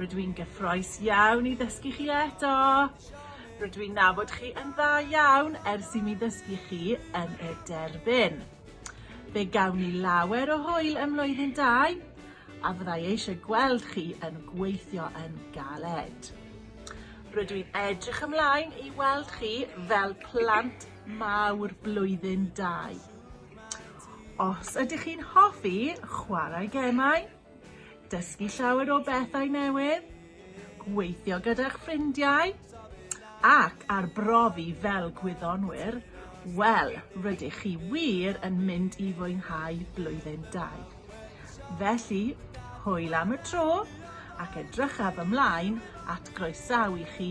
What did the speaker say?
Rydw i'n gyffroes iawn i ddysgu chi eto! Rydw i'n nabod chi yn dda iawn ers i mi ddysgu chi yn y derbyn. Fe gawn ni lawer o hwyl ym mlwyddyn dau, a fyddai eisiau gweld chi yn gweithio yn galed. Rydw i'n edrych ymlaen i weld chi fel plant mawr blwyddyn dau. Os ydych chi'n hoffi chwarae gemau, Dysgu llawer o bethau newydd, gweithio gyda'ch ffrindiau ac arbrofi fel gwyddonwyr, wel, rydych chi wir yn mynd i fwynhau blwyddyn dau. Felly, hwyl am y tro ac edrychaf ymlaen at groesawu chi